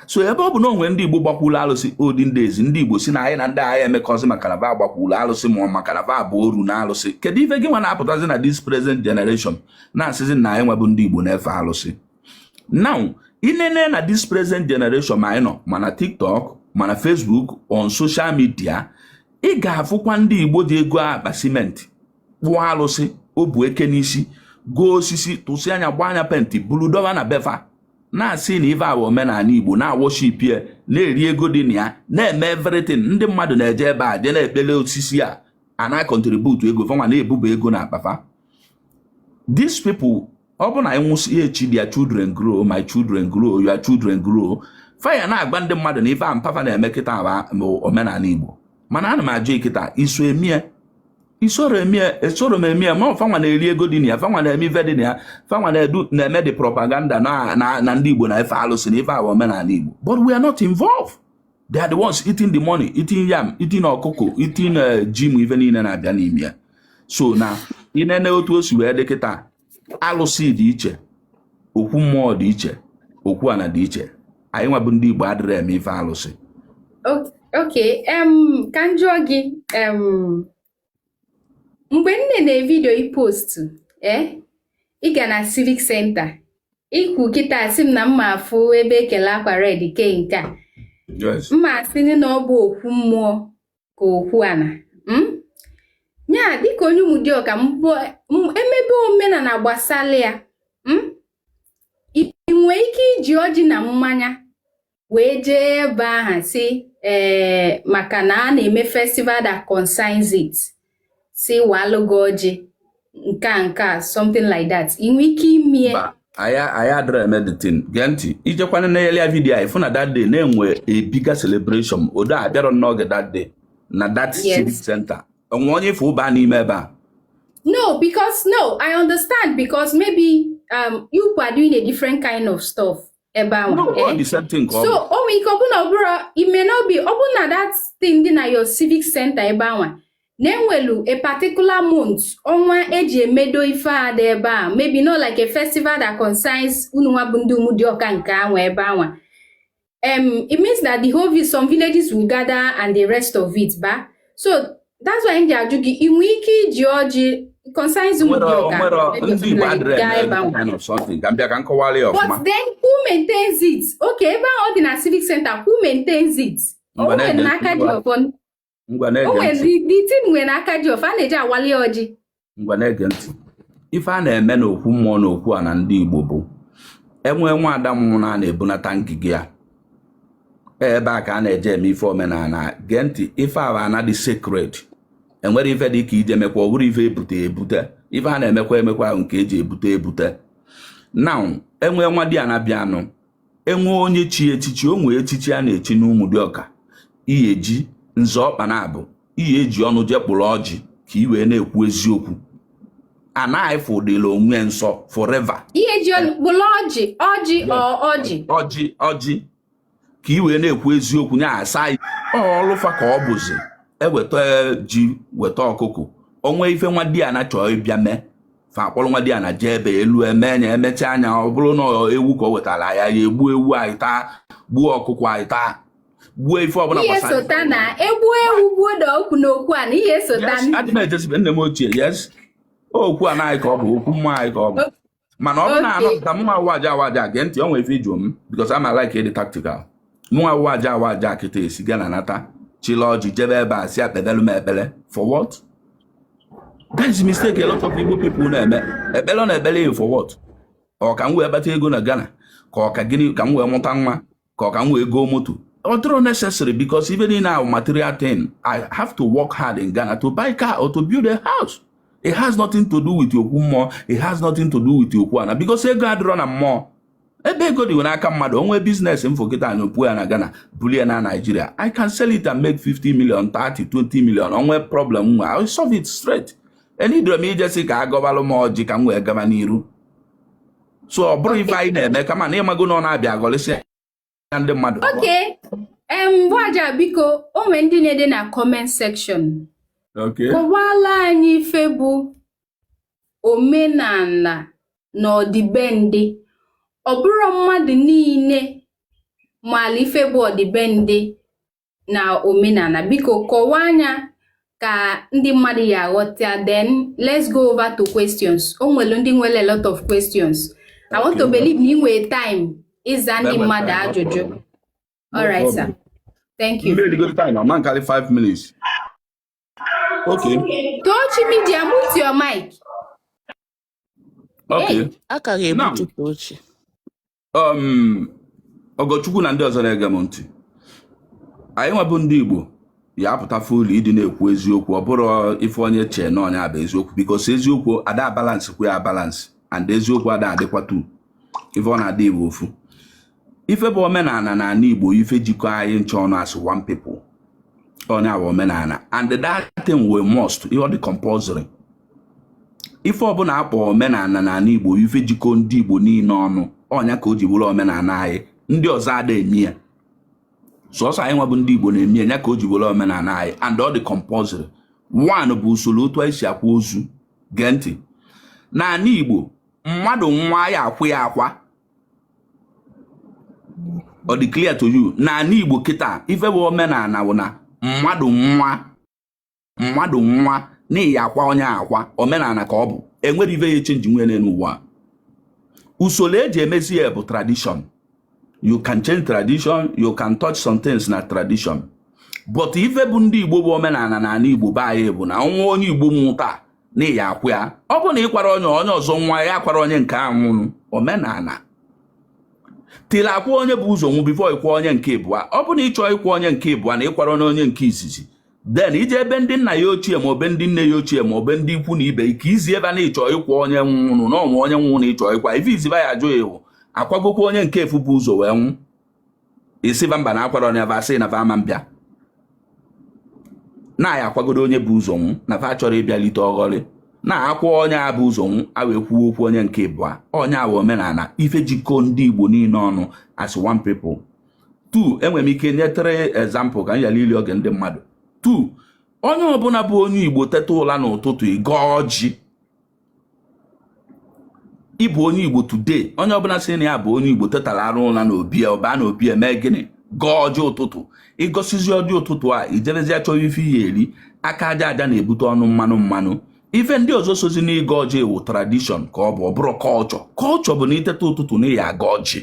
so ebe ọ bụ na o nwere ndị Igbo gbakwuru alụsị olden days ndị Igbo si na anyị na ndị a aya emekọzi maka na va gbakwuru alụsị ma maka na va bụ oru na alụsị kedu ife gị nwa na-apụtazi na this present generation na-asịzi na anyị nwa bụ ndị Igbo na-efe alụsị now ị nene na this present generation ma anyị nọ ma na TikTok ma na Facebook on social media ị ga-afụkwa ndị Igbo ji ego akpa simenti kpụọ alụsị o bu eke n'isi goo osisi tụsị anya gbaa anya penti bulu doba na be fa na-asị na ive a wụ omenala igbo na-awọship ya na-eri ego dị na ya na-eme everything ndị mmadụ na-eje ebe a je na-ekpele osisi a a na-akọntributu ego fanwa na-ebuba ego na akpa fa these people ọ bụ na anyị nwụsịa echi their children grow my children grow your children grow fa ya na-agwa ndị mmadụ na ife a mpa fa na-eme kịta omenala Igbo mana ana m ajụ gị kịta i so eme ya i soro eme ya esoro m eme ya ma fanwa na-eri ego dị na ya fanwa na-eme ife dị na ya fanwa na-edu na-eme the propaganda na ndị Igbo na-efe alụsị na ife a wụ omenala Igbo but we are not involved they are the ones eating the money eating yam eating ọkụkọ eating eh, ji ma ife niile na-abịa n'ime ya so na ị nene otu o si wee dị kịta alụsị dị iche okwu mmụọ dị iche okwu ana dị iche anyị nwa bụ ndị Igbo adịrọ eme ife alụsị ok ka m jụọ gị mgbe m na-ene vidio i postu ee eh, ị ga na civic center i kwu kịta asị m na m ma afụ ebe e kele akwa red kee nke a ma asị na ọ bụ okwu mmụọ ka okwu ana hmm? ya dịka onye Ụmụdịọka e mebe omenala gbasara ya hmm? ị nwee ike iji ọjị na mmanya wee jee ebe ahụ si ee eh, maka na a na-eme festival that concerns it si walụ gị ọjị nke a nke a something like that ị nwee ike ime ya anyị adịrọ eme the thing gee ntị i jekwa na earlier vidio anyị fụ na that day na-enwe a bigger celebration although abịarọ m n'oge that day na that civic center o nwe onye ị fụ ba n'ime ebe a no because no i understand because maybe um, you are doing a different kind of stuff ebe ahụ eh? so o nwere ike ọ bụ na ọ bụrọ it may not be ọ bụ na that thing dị na your civic center ebe anwa na e nwelu a particular month ọnwa e ji emedo ife a dị ebe a maybe not like a festival that concerns unu nwa bụ ndị Umudioka nke anwa ebe anwa um it means that the whole some villages will gather and the rest of it ba so that's why m ji ajụ gị ị nwee ike iji ọjị concerns Ụmụdịọka but then who maintains it okay ebe ahụ ọ dị na civic center who maintains it o nwere n'aka ji ọfọ o nwere the thing nwere n'aka ji ọfọ a na-eji awali ọjị ngwa na-ege ntị ife a na-eme n'okwu mmụọ na okwu ana ndị Igbo bụ enwee nwa ada mmụọ na na-ebunata ngige ya ebe a ka a na-eje eme ife omenana gee ntị ife a na-adị sacred enwere ife dị ka ije mekwa ọ bụrụ ife ebute ebute ife a na-emekwa emekwa nke eji ebute ebute now enwee nwadiana bịanụ enwee onye chi echichi o nwee echichi a na-echi n'Ụmụdịọka ihe eji nzọ ọkpa na-abụ ihe eji ọnụ jee kpụrụ ọjị ka i wee na-ekwu eziokwu anaghị fụdịla onwe nsọ forever ihe eji ọnụ kpụrụ ọjị ka i wee na-ekwu eziokwu nya asa ọlụfa ka ọ bụzi eweta ji weta ọkụkụ o nwee ife nwadiana chọọ ịbịa mee fa akpọrọ nwadiana jee ebe elu emee nya emechaa nya ọ bụrụ na ewu ka o wetara ya egbuo ewu anyị taa gbuo ọkụkọ anyị taa gbuo ife ọbụla ihe sota na egbu ewu gbuo da okwu na okwu ana ihe sota adị m ejesibe nne m ochie yes okwu ana anyị ka ọ bụ okwu mmụọ anyị ka ọ bụ mana ọ bụ na anọ ka mụnwa awaja awaja gee ntị ọ nwere ife ị jụọ m because ama like ịdị tactical mụ awaja awaja kịta esi Ghana nata chila ọjị jebe ebe a sị ekpebelu m ekpere for what that is mistake a lot of Igbo people na-eme ekpere na ekpere for what ọ ka m wee kpata ego na Ghana ka ọ ka gịnị ka m wee mụta nwa ka ọ ka m wee goo moto ọ dịrọ necessary because even in our material thing I have to work hard in Ghana to buy car or to build a house it has nothing to do with okwu mmụọ it has nothing to do with okwu ana because ego adịrọ na mmụọ ebe ego dị n'aka mmadụ o nwee business m fụ kịta anyị opuo ya na Ghana buli ya na Nigeria I can sell it and make 50 million 30 20 million o nwee problem m nwe I solve it straight eneedirọ m ije sị ka agọbalụ m ọjị ka m wee gaba n'iru so ọ bụrọ ife anyị na-eme kama na ịmago na ọ na-abịa agọlịsị na ndị mmadụ okay em awaja biko o nwere ndị na-ede na comment section kọwala anyị ife bụ omenana na ọdịbendị ọ bụrọ mmadụ niile maala ife bụ ọdịbendị na omenana biko kọwaa nya ka ndị mmadụ ya aghọta then let's go over to questions o nwere ndị nwere a lot of questions I want to believe na ị nwere time ịza ndị mmadụ ajụjụ all right sir thank you Okay. Tochi Media, mute your mic. Okay. Hey, aka ga-ebutu Tochi. um, Ogochukwu na ndị ọzọ na-ege m ntị anyị nwa bụ ndị Igbo ya apụta fully ịdị na-ekwu eziokwu ọ bụrọ ife onye chee na ọnya bụ eziokwu because eziokwu ada balance kwa ya balance and eziokwu ada adịkwa two ife ọ na-adị bụ ofu ife bụ omenala na ala Igbo ife jikọ anyị ncha ọnụ as one people ọnya bụ omenala and that thing we must ihe ọ dị compulsory ife ọbụla akpọ omenala n'ala Igbo ife jikọ ndị Igbo niile ọnụ ọnya ka o ji bụrụ omenala anyị ndị ọzọ ada eme ya sọsọ anyị nwa bụ ndị Igbo na-eme ya ka o ji bụrụ omenala anyị and ọ dị compulsory one bụ usoro otu anyị si akwa ozu gee ntị n'ala Igbo mmadụ nwụa ya akwa ya akwa ọ dị clear to you n'ala Igbo kịta ife bụ omenala bụ na mmadụ nwụa mmadụ nwụa na ya akwa onye akwa omenala ka ọ bụ enwerọ ive ya echenji nwee n'elu ụwa usoro eji emezi ya bụ tradition you can change tradition you can touch some things na tradition but ife bụ ndị igbo bụ omenala na ala igbo be anyị bụ na nwa onye igbo nwụa taa na ya akwa ya ọ bụ na ịkwarọ onye onye ọzọ nwụa ya akwara onye nke a nwụrụ omenala tiri akwa onye bu ụzọ nwụ before ịkwa onye nke ịbụa ọ bụ na ịchọọ ịkwa onye nke ịbụa na ịkwarọ onye nke izizi then i jee be ndị nna ya ochie ma ọ be ndị nne ya ochie ma ọ be ndị ikwu na ibe ije izi va na ịchọ ịkwa onye nwụrụ na ọnwa onye nwụrụ na ịchọ ịkwa ife izizi va ya ajụ ị wụ akwagokwa onye nke afụ bu ụzọ wee nwụ ị sị va mba na akwarọ onye va sị na va ama abịa na ya akwagodo onye bu ụzọ nwụ na va chọrọ ịbịalite ọghọrị na akwa onye a bu ụzọ nwụ a wee kwuo okwu onye nke ịbụa ọnya wụ omenala ife jikọ ndị Igbo niile ọnụ as one people two enwere m ike nye three example ka m yala ili oge ndị mmadụ two onye ọbụla bụ onye igbo teta ụla n'ụtụtụ ị gọọ ọjị ịbụ onye igbo today onye ọbụla sị na ya bụ onye igbo tetara arụ ụla na obi ọ baa na obi eme gịnị gọọ ọjị ụtụtụ ịgọsizi ọjị ụtụtụ a ijerezi achọva ife ị ya eri aka aja aja na-ebute ọnụ mmanụ mmanụ ife ndị ọzọ sozi n'ịgọ ọjị wụ tradition ka ọ bụ ọ bụrọ culture culture bụ na iteta ụtụtụ na ị ya agọ ọjị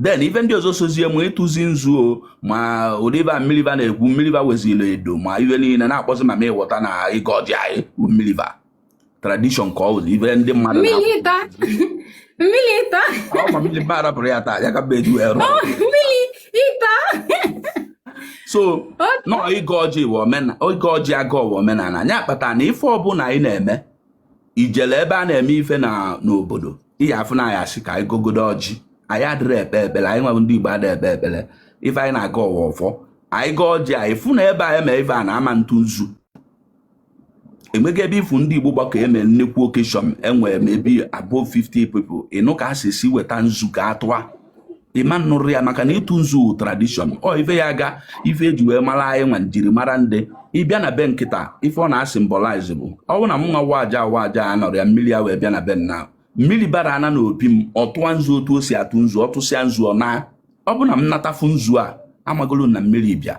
then ife ndị ọzọ sozie ma ịtụzi nzu o ma ụdị va mmiri va na-ekwu mmiri va weziri edo ma ife niile na-akpọzi ma ma ịghọta na ịgọ ọjị anyị mmiri va tradition ka ọ bụ ife ndị mmadụ mmiriba arapụrụ ya taa ya ka mbe eju ero so na ịgọ ọjị bụ omenala ịgọ ọjị agọ ọ wụ omenala anyị akpata na ife ọbụla anyị na-eme ijele ebe a na-eme ife na n'obodo ị ya-afụ na a ya-asị ka anyị gọgodo ọjị anyị adịrị ekpe ekpere anyị nwa bụ ndị Igbo adị ekpe ekpere ife anyị na-agọ ọwa ọfọ anyị gọọ ọjị anyị fụ na ebe anyị mee ife a na-ama ntụ nzu enweghị ebe ị fụ ndị Igbo gbakọ eme nnekwu occasion e nwere maybe above 50 people ị nụ ka a sị sị weta nzu ka a tụa ị ma nụrụ ya maka na ịtụ nzu wụ tradition ọ ife ya ga ife e ji wee mara anyị nwa njirimara ndị ị bịa na be m kịta ife ọ na-asymbolize bụ ọ bụrụ na m nwa wa aja wa aja anọrọ ya mmiri ya wee bịa na be m na mmiri bara ana n'obi m ọ tụa nzu otu o si atụ nzu ọ tụsịa nzu ọ naa ọ bụrụ na m nata fụ nzu a amagolo na mmiri bịa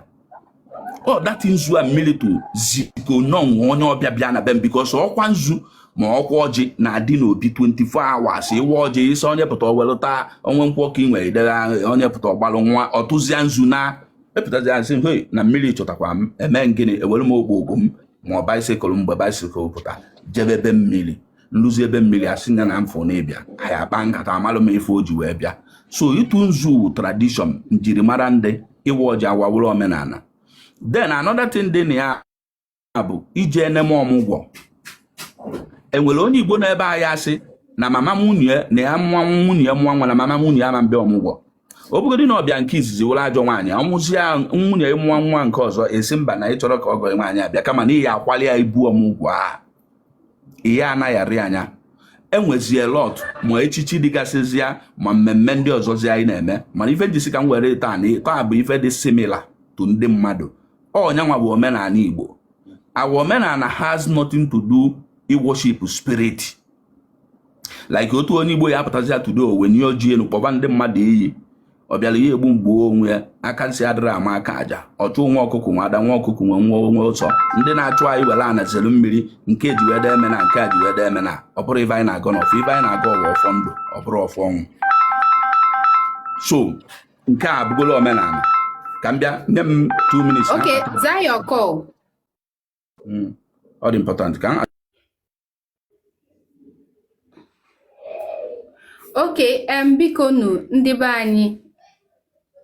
or that nzu a mmiri tụ ziko na o nwe onye ọbịa bịa na be m because ọkwa nzu ma ọkwa ọjị na-adị n'obi 24 hours ịwa ọjị ịsa onye pụta o welụta ọ wụ nkwụ ka i nwe i debe onye pụta ọ gbalụ ṅụa ọ tụzia nzu naa epụtazi asị hei na mmiri chọtakwa m eme m gịnị ewere m ụgbọ m ma ọ bicycle mgbe bicycle pụta jebe be mmiri m luzie be mmiri asị ya na m fụ na ị bịa anyị akpa nkata amalụ m ife o ji wee bịa so ịtụ nzu tradition njirimara ndị ịwa ọjị awawụrụ omenala then another thing dị na ya bụ ije eneme ọmụgwọ enwere onye Igbo na be anyị asị na mama nwunye na ya nwa nwunye nwa nwa na mama nwunye ama mbịa ọmụgwọ ọ bụgodị na ọ bịa nke izizi wụrụ ajọ nwaanyị ọ mụzia nwunye mụọ nwa nke ọzọ ị sị mba na ị chọrọ ka ọgọ ị nwaanyị bịa kama na ị ya-akwalị ya ibu ọmụgwọ a ihe anaghị arị anya e nwezie lot ma echichi dịgasịzịa ma mmemme ndị ọzọzi anyị na-eme mana ife m ji sị ka m were taa na taa bụ ife dị similar to ndị mmadụ ọ nya nwa bụ omenala Igbo our omenala has nothing to do iworship spirit like otu onye Igbo ya apụtazi atudo owe nye oji elu kpọba ndị mmadụ iyi ọ bịara ya egbu m gbuo onwe ya aka nsị adịrị ama aka aja ọchụ nwa ọkụkọ nwe ada nwa ọkụkọ nwe nwọnwọ ọsọ ndị na-achụ anyị were ana zere mmiri nke ji wede eme na nke a ji wede eme na ọ bụrọ ife anyị na-agọ n'ọfọ ife anyị na-agọ ọwa ọfọ ndụ ọ bụrọ ọfọ ọnwụ so nke a abụgolo omenala ka m bịa nye m 2 minutes okay zaa your call hmm. ọ dị important ka okay em biko nu ndị be anyị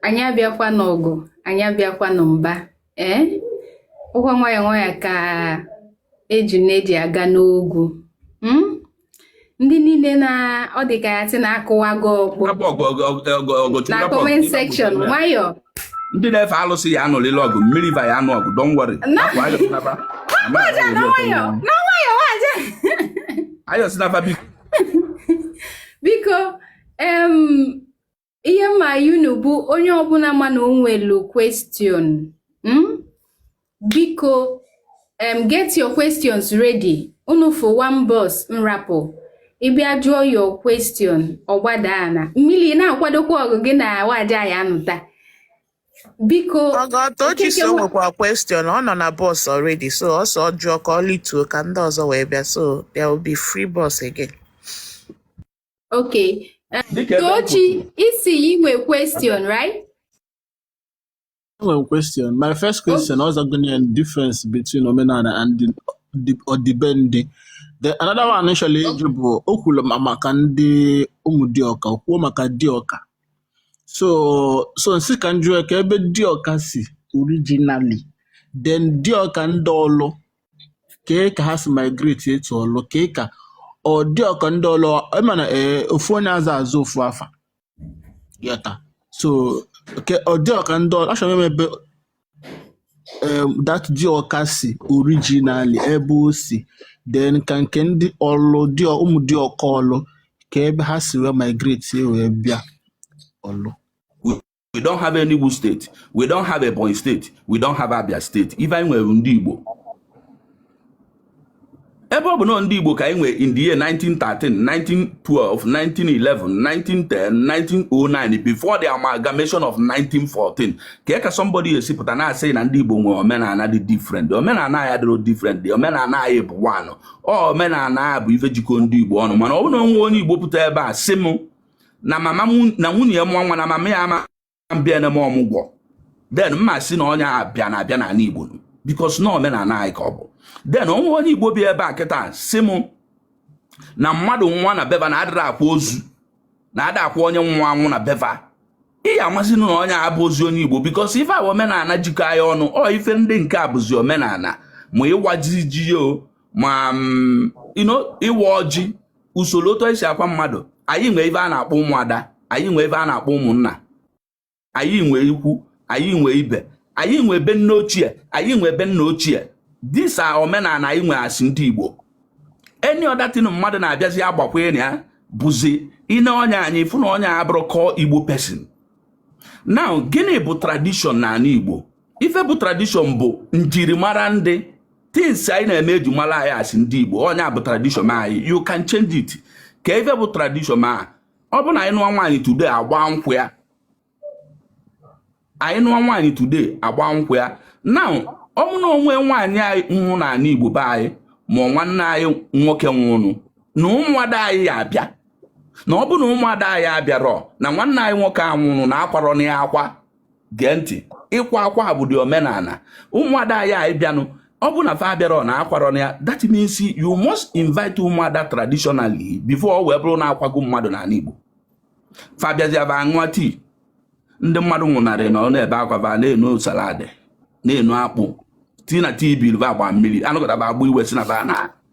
anyị abịakwa n'ọgụ anyị abịakwa na mba ee ọ kwa nwayọ nwayọ ka ejuna ji aga n'ogwu hmm? ndị niile na ọ dị ka a ya-asị na a kụwago ọkpọ na comment section nwayọ ndị na-efe alụsị ya-anụlịlị ọgụ mmiri va ya-anụ ọgụ don't worry ayọzina fa biko biko ihe m ayọ unu bụ onye ọbụla ma na o nwelu question hmm? biko um, get your questions ready unu fụ one box m rapụ ị bịa jụọ your question ọ gbada ana mmiri na-akwadokwa ọgụ gị na waja ya nụta biko ọgọ Tochi sị o nwekwa question ọ nọ na box already so ọsọ jụọ ka o lituo ka ndị ọzọ wee bịa so there will be free box again okay Tochi ị sị ị nwe question right Enwere m question. My first question ọ zago ya difference between omenala and the- the- ọdịbendị. The another one m chọrọ ịjụ bụ o kwuru ma maka ndị Ụmụdiọka, o kwuo maka Diọka. So so m sị ka m jụọ ka ebe Diọka si originally, then Diọka ndị Ọlụ kee ka ha si migrate to Ọlụ kee ka ọ Diọka ndị Ọlụ ị ma na ee ofu onye ada aza ofu afa. ị ghọta so kee Diọka ndị ọ- achọrọ m ebe em, that Diọka si originally ebe o si then ka nke ndị Ọlụ diọ- Ụmụdiọka Ọlụ ka ebe ha si wee migrate si wee bịa Ọlụ We, we don't have Enugu State. We don't have Ebonyi State. We don't have Abia State. Ife anyị nwere Ndigbo, ebe ọ bụna ndị Igbo ka anyị nwere in the year 1913 1912 1911 1910 1909 before the amalgamation of 1914 kee ka somebody ya-esi pụta na-asị na ndị Igbo nwere omenala dị different omenala anyị dịrọ different omenala anyị bụ one omenala bụ ife jikọ ndị Igbo ọnụ mana ọ bụrụ na o nwe onye Igbo pụta ebe a sị m na mama na nwunye ya mụọ nwa na mama ya ama bịa ne m ọmụgwọ then m ma sị na onye a bịara abịa n'ala igbo because na omenala anyị ka ọ bụ then o nwe onye igbo bi ebe a kịta sị m na mmadụ nwụa na be va na adịrọ akwa ozu na ada akwa onye nwụ anwụ na be va ị ya-amazịnụ na onye a abụrọzị onye igbo because ife a omenala jikọ anyị ọnụ ọ ife ndị nke a bụzi omenala ma ịwa ji o ma mm, ịwa ọjị usoro otu e si akwa mmadụ anyị nwee ife a na-akpọ ụmụada anyị nwee ife a na-akpọ ụmụnna anyị nwee ikwu anyị nwee ibe anyị nwee ebe nne ochie anyị nwee ebe nna ochie these are omenala anyị nwee as ndị Igbo any other thing mmadụ na-abịazi agbakwanye ya bụzi i ne onye a anya ị fụ na onye a abụrọ core Igbo person now gịnị bụ tradition n'ala Igbo ife bụ tradition bụ njirimara ndị things anyị na-eme e ji mara anyị as ndị Igbo ọ ya bụ tradition anyị you can't change it kee ife bụ tradition a ọ bụ na anyị nụọ nwaanyị today agba nkwụ ya anyị nụọ nwaanyị today agba nkwụ ya now ọ bụ na o nwe nwaanyị anyị nwụ n'ala Igbo be anyị ma nwanne anyị nwoke nwụnụ na ụmụada anyị ya-abịa na ọ bụ na ụmụada anyị abịarọ na nwanne anyị nwoke a nwụrụ na akwarọ na ya akwa gee ntị ịkwa akwa a bụdị omenana ụmụada ya ịbịanụ ọ bụ na fa abịarọ na akwarọ nya that means you must invite ụmụada traditionally before ọ wee bụrụ na akwago mmadụ n'ana Igbo fa bịazịa ba aṅụọ tii ndị mmadụ nwụnarị nọ na-ebe akwa ba na-enu salad na-enu akpụ tii na tii bilva agba mmiri anụgọtaba agba iwe si na ba na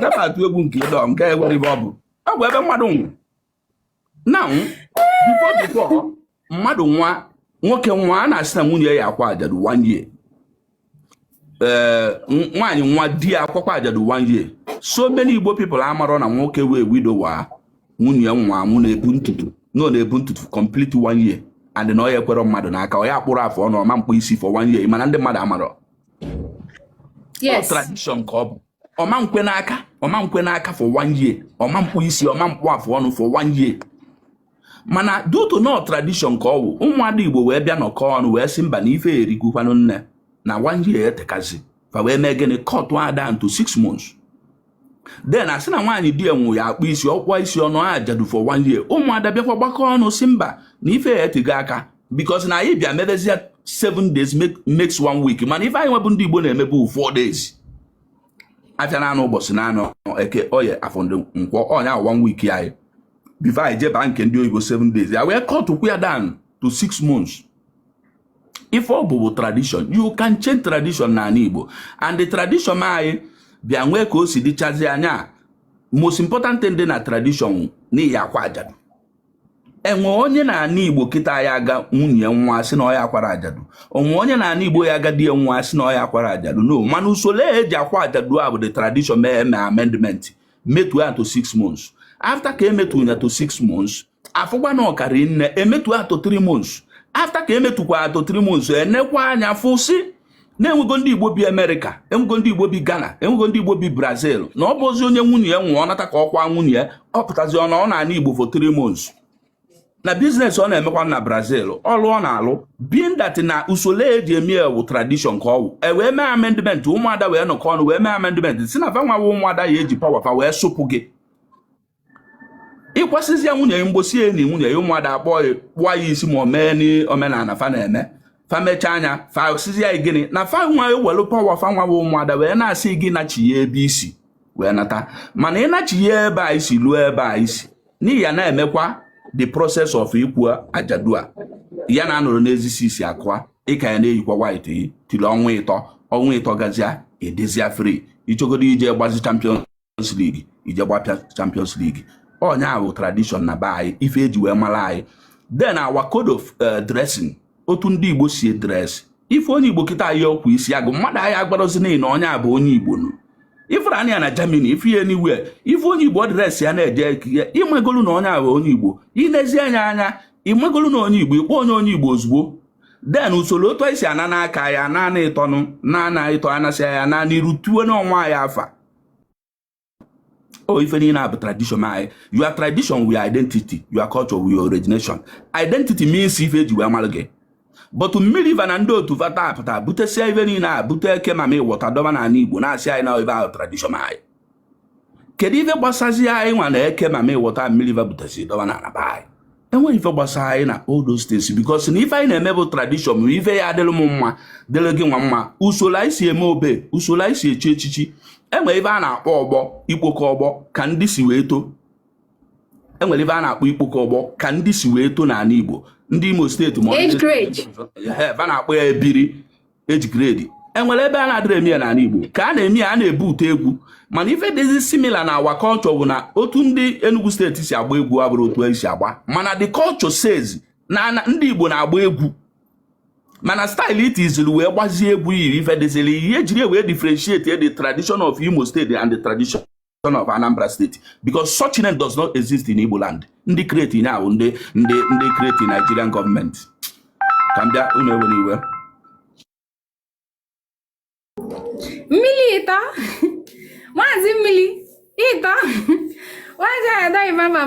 ka m atụ egwu nke ịdọ nke enwere ibe ọ bụ ọ bụ ebe mmadụ nwụ na before before mmadụ nwụa nwoke nwụa a na-asị na nwunye ya akwa ajadu one year ee nwaanyị nwụa di ya akwakwa ajadu one year so many igbo people amarọ na nwoke wụ widower nwunye nwa mụ na-ebu ntutu na ọ na-ebu ntutu complete one year and na ọ ya ekwerọ mmadụ n'aka ọ ya akpụrọ afọ ọnụ ọ ma mkpụ isi for one year mana ndị mmadụ amarọ Ọ yes tradition ka ọ bụ ọ ma nkwe n'aka ọ ma nkwe n'aka for one year ọ ma mkpụ isi ọ ma mkpụ afọ ọnụ for one year mana due to na ọ tradition ka ọ wụ ụmụada igbo wee bịa nọkọ ọnụ wee sị mba na ife a erigokwanụ nne na one year etekazi fa wee mee gịnị kọtụa down to six months then a sị na nwaanyị di ya nwụ ya akpụ isi ọ kpụa isi ọ nọa ajadu for one year ụmụada bịakwa gbakọ ọnụ sị mba na ife a etego aka because na anyị bịa mebezie seven days makes one week mana ife anyị nwebụ ndị Igbo na-emebu four days afịa naanọ ụbọchị naanọ eke oye afọ na nkwọ ọ nya one week anyị before anyị jeba nke ndị oyibo seven days ya wee kọtụkwu ya down to six months ife ọ bụ bụ tradition you can change tradition n'ana Igbo and the tradition anyị bịa nwee ka o si dịchazi anya most important thing dị na tradition n'iyi akwa ajadu e nwe onye n'ana igbo kịta ya aga nwunye nwụa sị na ọ ya akwara ajadu o nwe onye n'ana igbo ya aga di ya nwụa sị na ọ ya akwara ajadu no mana usoro eji akwa ajadu a bụ the tradition mee eme amendment metu ya to six months after ka emetu ya to six months a fụkwa na ọ karị nne emetu ya to three months after ka emetukwa ya to three months enekwa anya fụ sị na enwego ndị igbo bi america enwego ndị igbo bi ghana enwego ndị igbo bi brazil na ọ bụzi onye nwunye ya nwụ ọ nata ka ọ kwa nwunye ya ọ pụtazi ọ nọ n'ana igbo for three months na business ọ na-emekwa na brazil ọlụ ọ na-alụ being that na usoro eji eme e wụ tradition ka ọ wụ e wee mee amendment ụmụada wee nọkọ ọnụ wee mee amendment sị na fa nwa wụ ụmụada ya eji power fa wee sụpụ gị ị kwasịzia nwunye ya mbọsị e ni nwunye ya ụmụada akpọ ya kpụọ ya isi ma o mee n'omenala fa na-eme fa mechaa nya fa sịzị ya gịnị na fa nwa ewelu power fa nwa bụ ụmụada wee na-asị gị nachie ebe i si wee nata mana ị nachie ebe i si luo ebe i si na ị ya na-emekwa the process of ịkwa ajadu a ya na-anọrọ n'ezisi isi akụa ị ka ya na-eyikwa white yi tiri ọnwa ịtọ ọnwa ịtọ gazia ị dịzia free ị chọgodu ije gbazi champion Champions League ije gbapịa Champions League ọ ya bụ tradition na be anyị ife eji wee mara anyị then our code of eh, dressing otu ndị Igbo si dress ị fụ onye Igbo kịta o yi akwa isi agụ mmadụ anyị agwarozi gị na onye a bụ onye Igbo nụ ifere anya ya na Germany ị fụ ya anywhere ị fụ onye Igbo dress ya na-eje ekike ịmagolu na onye a bụ onye Igbo i lezi anya anya ịmagolu na onye Igbo ị kpọ onye onye Igbo ozugbo then usoro otu anyị si ana n'aka ya naanị ịtọnụ naanị ịtọ a na-asị ya naanị iru tuo n'ọnwa ya afa o ife niile a bụ tradition anyị your tradition wụ identity your culture wụ origination identity means ife eji wee mara gị but mmiri va na ndị otu vata apụta butesia ife niile a bute eke mami water dọba na ala igbo na-asị anyị na ife a bụ tradition anyị kedu ife gbasazi anyị nwa na eke mami water mmiri va butesi dọba na ala anyị enweghị ife gbasara anyị na all those things because na ife anyị na-eme bụ tradition ma ife ya-adịrị m mma dịrị gị nwa mma usoro anyị si eme obe usoro anyị si echi echichi enwere ife a na-akpọ ọgbọ ikpokọ ọgbọ ka ndị si wee too enwere ife a na-akpọ ikpokọ ọgbọ ka ndị si wee too n'ala Igbo ndị Imo steeti va na-akpọ ya ebiri age grade enwere ebe a na-adịrọ eme ya n'ala Igbo ka a na-eme ya a na-ebute egwu mana ife dịzi similar na our culture bụ na otu ndị Enugu steeti si agba egwu abụrọ otu anyị si agba mana the culture says na ndị Igbo na-agba egwu mana style i tiziri wee gbazie egwu yiri ife dịziri ihe ejiri wee differentiate the tradition of Imo State and the tradition of Anambra State because such name does not exist in Igbo land ndị create ya bụ ndị ndị ndị create Nigerian government ka m bịa unu ewene iwe mmiri ịta maazị mmiri ịta maazị adaghị mama